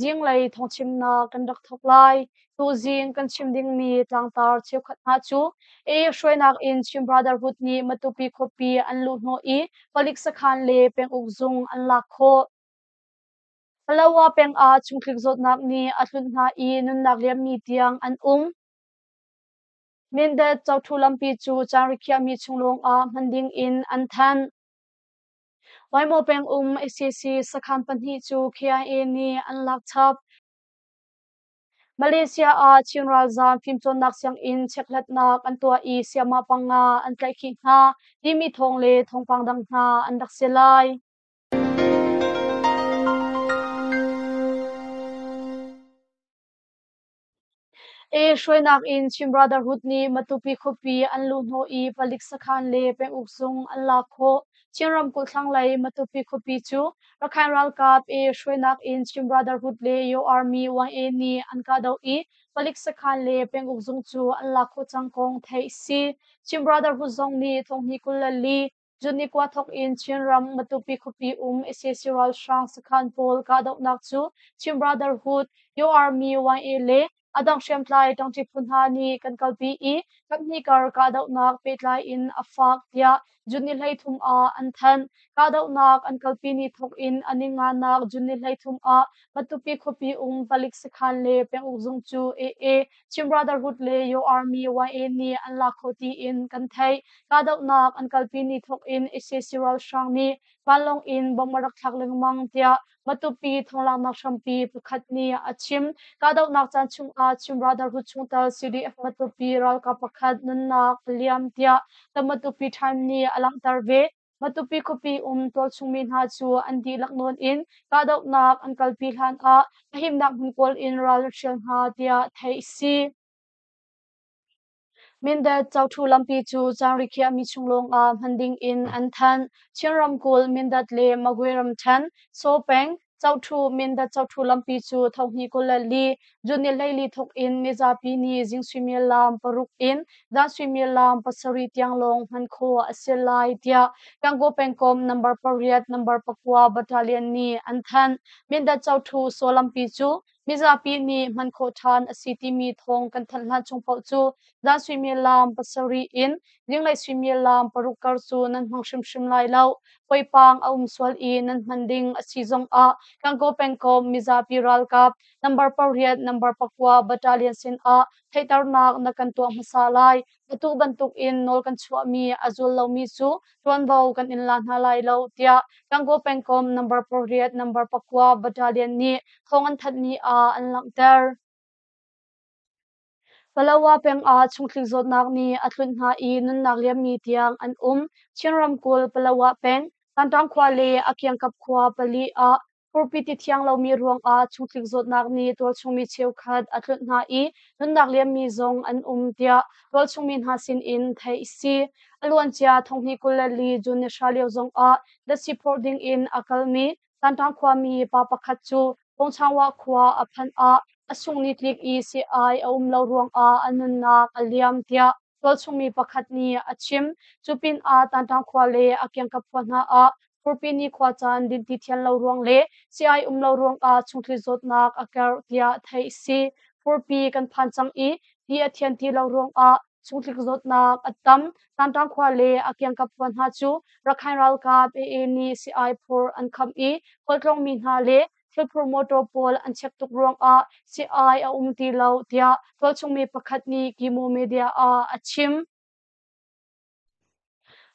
Zinglei thawngchimnak kan rak thawk lai. Tuzing kan chim dingmi tlangtar cheukhat hna cu i hruainak in Chin Brotherhood nih Matupi khuapi an luhhnawh i palik sakhan le penguk zung an lak khawh. Palawa peng ah chungkhik zawtnak nih a tlunh hna i nunnak liammi tiang an um. Mindat Chotu lampi cu caan rikhiahmi chung lawngah hman dingin an thanh. Waimo peng um ICC sakhan pahnih cu KIA nih an lak chap. Malaysia ah Chin ralzaam fimcawnnak sianginn chekhlatnak an tuah i sayamah panga an tlaihkhih hna timi thawng le thawngpang dang hna an rak si lai. E hruainak in Chin Brotherhood nih Matupi khuapi an luhhnawh i palik sakhan le penguk zung an lak khawh. Chin ramkulh thlanglei Matupi khuapi cu Rakhine ralkap E hruainak in Chin Brotherhood le Yaw Army YA nih an kahdoh i palik sakhan le penguk zung cu an lak khawh cang kong theih a si. Chin Brotherhood zong nih thonghnih kul le li Cun i kua thawk in Chinram Matupi khuapi um ICC ralhrang sakhan pawl kahdohnak cu Chin Brotherhood, Yo Army YA le a dang hriamtlai ṭangṭi phu hna nih kan kalpi i kaphnih kar kahdohnak pehtlai in a faak tiah June ni hleithum ah an thanh. Kahdohnak an kalpi ni thawk in a ninganak June ni hleithum ah Matupi khuapi um palik sakhan le penguk zung cu AA Chin Brotherhood le Your Army YA nih an la kho tiin kan theih. Kahdohnak an kalpi ni thawk in ISIS ralhrang nih vanlawng in bomb a rak thlak lengmang tiah Matupi thawnglaaknak hrampi pakhat nih a chim. Kahdohnak caan chungah Chin Brotherhood chungtel CDF Matupi ralkap pakhat nunnak a liam tiah The Matupi Times nih a langhter ve. Matupi khuapi um tualchungmi hna cu an dihlak nawn in kahdohnak an kalpi hlanah a himnak hmun kawl in ral a ṭhial hna tiah theih a si. Mindat Chotu lampi cu caanri khiahmi chung lawngah hman dingin an thanh. Chin ramkulh Mindat le Magwe ramṭhen, Sopeng, Choṭhu Mindat choṭhu lampi cu thohni kul le li June ni hleili thawk in mizapi nih zing suimilam paruk in dan suimilam pasarih tiang lawng hman khawh a si lai tiah Yangon pengkom number pariat number pakua battalion nih an thanh. Mindat choṭhu saw lampi cu Mizapi nih hman khawh ṭhan a si timi thawng kan thanh hlan chung paoh cu dan suimilam pasarih in zinglei suimilam paruk kar cu nan hmang hrimhrim lai lo. Poipang a um sual i nan hman ding a si zongah Kankaw pengkomh mizapi ralkap number pariat number pakua battalion sinah theihternak na kan tuah hmasa lai. Atu bantukin nawl kan chuahmi a zul lomi cu ṭuanvo kan in la hna lai lo, tiah Gangaw pengkom number pariat number pakua battalion nih thawng an thanhmi ah an langhter. Palawa peng ah chungthlik zawtnak nih a tlunh hna i nunnak liammi tiang an um. Chin ramkulh Palawa peng, Sanṭang khua le a kiangkap khua pali ah Furpi ti thiang lomi ruangah chungtlik zawtnak nih tualchungmi cheukhat a tlunh hna i nunnak liammi zong an um tiah tualchungmi hna sinin theih a si. A luancia thonghni kul le li June ni hra lio zongah Datsi phawrh dingin a kalmi Sanṭang khuami pa pakhat cu Pungchangwa khua a phanh ah a sungni tlik i seh-ai a um lo ruangah a nunnak a liam tiah Tualchungmi pakhat nih a chim. Cu pinah Tanṭang khua le a kiangkap khua hna ah Furpini khua caan dinti thial lo ruang le sii-ai um lo ruangah chungthli zawtnak a karh tiah theih a si. Furpi kan phan cang i ti a thian ti lo ruangah chungthli zawtnak a tam. Tanṭang khua le a kiangkap khua hna cu Rakhain ralkap AA nih sii-ai phur an kham i khualtlawng mi hna le Sulphur motor pawl an check tuk ruangah si-ai a um ti lo, tiah tualchungmi pakhat nih Kimo media ah a chim.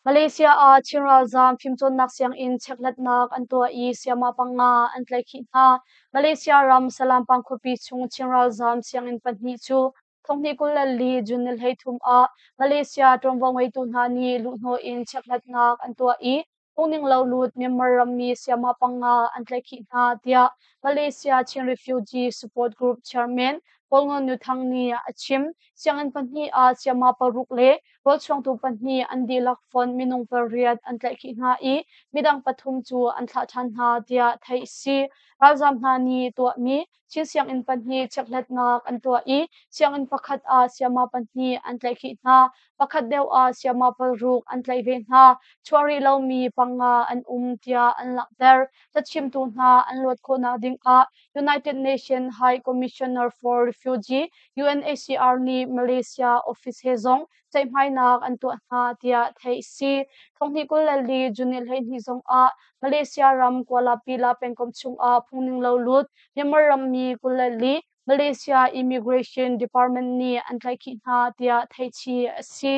Malaysia ah Chin ralzaam fimcawnnak sianginn chekhlatnak an tuah i sayama panga an tlaihkhih hna. Malaysia ram Salam pangkhuapi chung Chin ralzaam sianginn pahnih cu Thonghnih kul le li June ni hleithum ah Malaysia ṭuanvo ngeitu hna nih luhhnawh in chiakhlatnak an tuah i phungninglo lut Myanmar rammi sayama panga an tlaihkhih hna, tiah Malaysia Chin Refugee Support Group chairman Paul Ngon Nu Thang nih a chim. Sianginn pahnih ah sayama paruk le rawlchuangtu pahnih an dihlak fon minung pariat an tlaihkhih hna i midang pathum cu an thlah ṭhan hna, tiah theih a si. Ralzaam hna nih tuahmi Chin sianginn pahnih chekhlatnak an tuah i sianginn pakhat ah sayama pahnih an tlaihkhih hna. Pakhat deuh ah sayama paruk an tlaih ve hna. Chuah rih lomi panga an um tiah an langhter. Cachimtu hna an luat khawhnak ding ah United Nations High Commissioner for Refugee UNHCR nih Malaysia office he zong ceihmainak an tuah hna tiah theih a si. Thonghnih kul le li June hleihnih zongah Malaysia ram Kuala Pila pengkomh chungah phungninglo lut Myanmar rammi kul le li Malaysia Immigration Department nih an tlaihkhih hna tiah theihchih a si.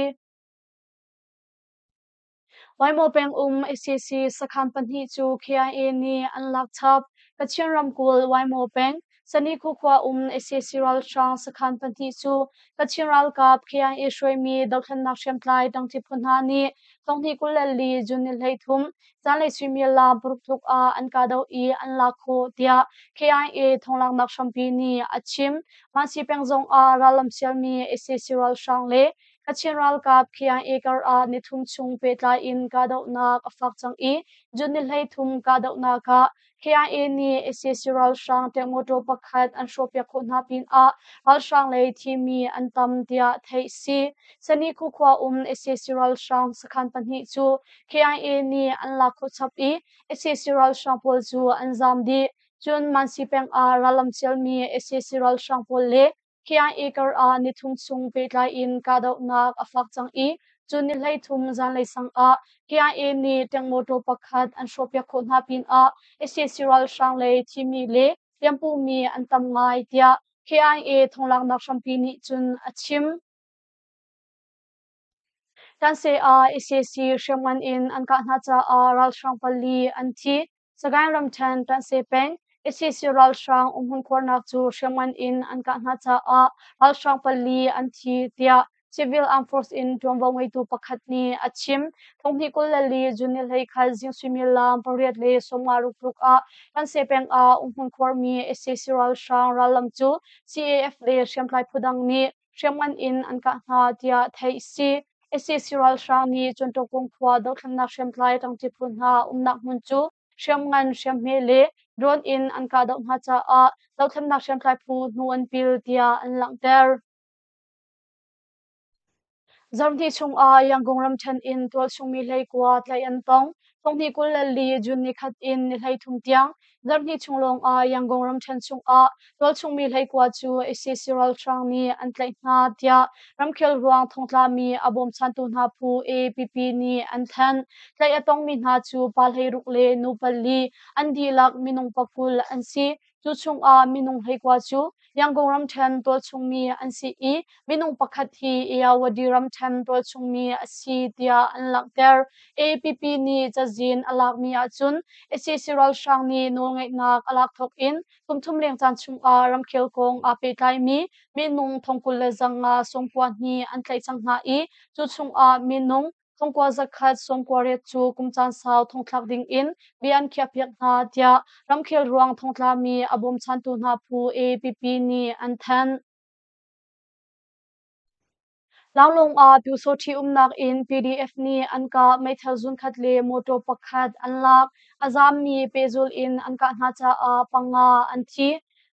Waimo peng um ICC sakhan pahnih cu KIA nih an lak chap. Kachin ramkulh Waimo peng Sanikhu khua um ICC ralhrang sakhan pahnih cu Kachin ralkap KIA hruaimi dohthlennak hriamtlai dangtip phu hna nih tonghnih kul le li June ni hleithum zanlei suimial la paruk tluk ah an kahdoh i an lak khawh tiah KIA thonglaknak hrampi nih a chim. Mansi peng zong ah rallam sialmi ICC ralhrang le Kachin ralkap Khiang Acre ah nithum chung pehtlai in kahdohnak a fak cang i June ni hleithum kahdohnak ah KIA nih ICC ralhrang tiang mawtaw pakhat an hrawhpiak khawh hna pinah ralhrang lei thimi an tam tiah theih si. Sani Khukhua um ICC ralhrang sakhan pahnih cu KIA nih an lak khawh chap i ICC ralhrang pawl cu an zam dih. Cun Mansi peng ah rallam cialmi ICC ralhrang pawl le Kiang acre ah nithum chung pehtlai in kahdohnak a fak cang i cun ni hleithum zanlei sang ah KIA nih ṭeng motor pakhat an hrawhpiak khawh hna pinah sac ralhrang lei thimi le hliampumi an tam ngai tiah KIA thawnglanghnak hrampi nih cun a chim. Tanseh ah ICC hriamngan in an kah hna caah ralhrang pali an thi. Sagaing ramthen Tanseh peng ICC ralhrang umhmun khuarnak cu hriamngan in an kah hna caah ralhrang pali an thi tiah civil armed force in tuanvo ngeitu pakhat nih a chim. Thonghnih kul le li June ni hlei khan zing suimilam pariat le sawmnga rukhruk ah Tanseh peng ah umhmun khuarmi ICC ralhrang rallam cu CAF le hriamtlai phu dang nih hriamngan in an kah hna tiah theih a si. ISIS ralhrang nih Chunṭawkung khua dothlannak hriamtlai ṭangṭi phu hna umnak hmun cu hriamngan hriamhme le drone in an kahdoh hna caah dothlannak hriamtlai phu hnu an pil tiah an langhter. Zarhni chung ah Yangon ramṭhen in tualchung mi hleikua tlaih an tong. Sawmhnih kul le li June ni khat in ni hleithum tiang zarhhnih chung lawng ah Yangon ramṭhen chungah tualchungmi hleikua cu IC Cyril Hrang nih an tlaih hna tiah ramkhel ruang thongtlami a bawmchantu hna phu APP nih an thanh. Tlaih a tongmi hna cu pa hleiruk le nu pali an dihlak minung pakul an si. Cu chungah minung hleikua cu Yangon ramṭhen tualchungmi an si i minung pakhat hi Eyawady ramṭhen tualchungmi a si tiah an langhter. APP nih cazin a lakmi ahcun sac ralhrang nih nawlngeihnak a lak thawk in kum thum leng caan chungah ramkhel kong aa pehtlaimi minung thongkul le zanga sungpuahnih an tlaih cang hna i cu chungah minung thongkua zakhat sawmkua riat cu kum caan sau thongthlak dingin bia an khiahpiak hna tiah ramkhel ruang thongtlami a bawmchantu hna phu APP nih an thanh. Laulung ah Pyusawṭhi umnak in PDF nih an kah meithal zunkhat le mawṭaw pakhat an lak, a zaammi pehzul in an kah hna caah panga an thi.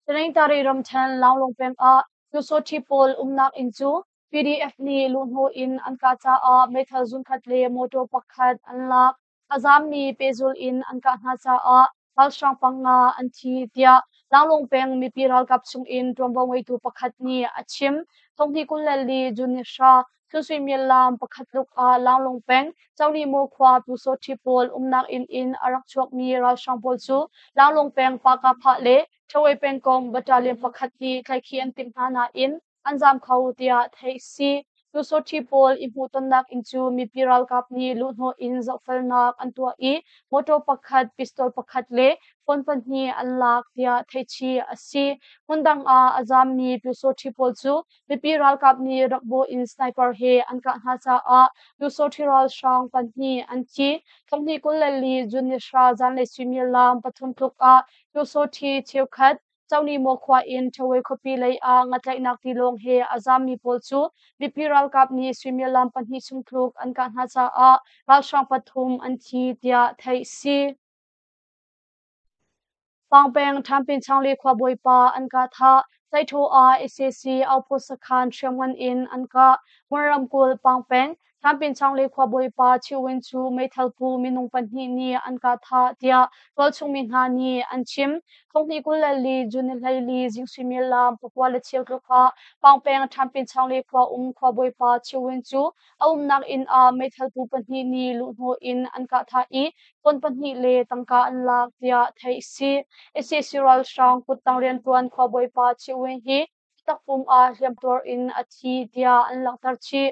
Tenengtari ramṭhen Laulung peng ah Pyusawṭhi pawl umnak inn cu PDF nih luhhnawh in an kah caah meithal zunkhat le mawṭaw pakhat an lak. A zaammi pehzulh in an kah hna caah ralhrang panga an thi, tiah Langlong peng mipi ralkap chungin ṭuanvo ngeitu pakhat nih a chim. Thonghni kul le li June ni hra thil suimilam pakhat tluk ah Langlong peng Cawlimo khua Pu Sawṭhi pawl umnak inn in a rak chuakmi ralhrang pawl cu Langlong peng Paka-Phah le Ṭhawei pengkong battalion pakhat nih tlaikhi an timh hna nain an zaam kho tiah theih si. Lusawṭhi pawl i hmuhtonnak in cu mipi ralkap nih luhhnawh in zohfelnak an tuah i mawṭaw pakhat, pistol pakhat le phone pahnih an lak tiah theihchih a si. Hmundang ah a zaammi lusawṭhi pawl cu mipi ralkap nih rak bawh in sniper he an kah hna caah lusawṭhi ralhrang pahnih an thi. Tlonghnih kul le li June ni hra zanlei suimilam pathum tluk ah lusawṭhi cheukhat Cawlimo khua in Ṭhawei khuapi lei ah ngatlaihnak tilawng he a zammi pawl cu mipi ralkap nih suimilam pahnih chung tluk an kah hna caah ralhrang pathum an thi tiah theih a si. Fangpeng Ṭhampinchangli khuabawipa an kah thah, Tlaitho ah sac outpost sakhan hriamngan in an kah, Hmun ramkulh Pangpeng Hlanpinchangli khuabawipa Ṭhiwin cu meithalpu minung pahnih nih an kah thah tiah tualchungmi hna nih an chim. Khonghni kul le li June ni hleili zing suimilam pakua le cheu tluk ah Pangpeng Hlanpinchangli khua um khuabawipa Ṭhiwin cu a umnak inn ah meithalpu pahnih nih luhhnawh in an kah thah i ton pahnih le tangka an lak tiah theih a si. ICC ralhrang kuttang rianṭuan khuabawipa Ṭhiwin hi takpum ah hliamtuar in a thi tiah an langhter chih.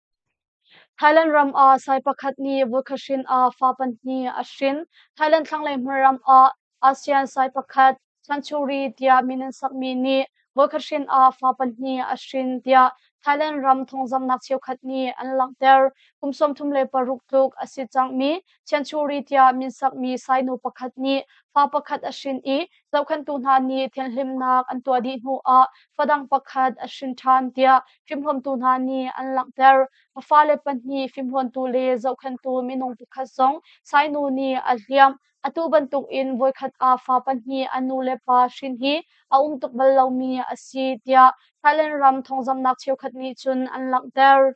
Thailand ram ah sai pakhat nih voikhat hrin ah fa pahnih a hrin. Thailand thlanglei hmun ram ah ASEAN sai pakhat Century tiah min an sakmi nih voikhat hrin ah fa pahnih a hrin tiah Thailand ram thawngzamhnak cheukhat nih an langhter. Kum sawmthum le paruk tluk a si cangmi Century tiah min sakmi sai nu pakhat nih fa pakhat a hrin i zohkhenhtu hna nih thianhlimnak an tuah dih hnuah fadang pakhat a hrin ṭhan tiah fimhuamtu hna nih an langhter. A fale pahnih fimhuamtu le zohkhenhtu minung pakhat zong sainu nih a hliamh. Atu bantukin voikhat ah fa pahnih an nu le pa hrin hi a um tuk bal lomi a si tiah Thailand ram thawngzamhnak cheukhat nih cun an langhter.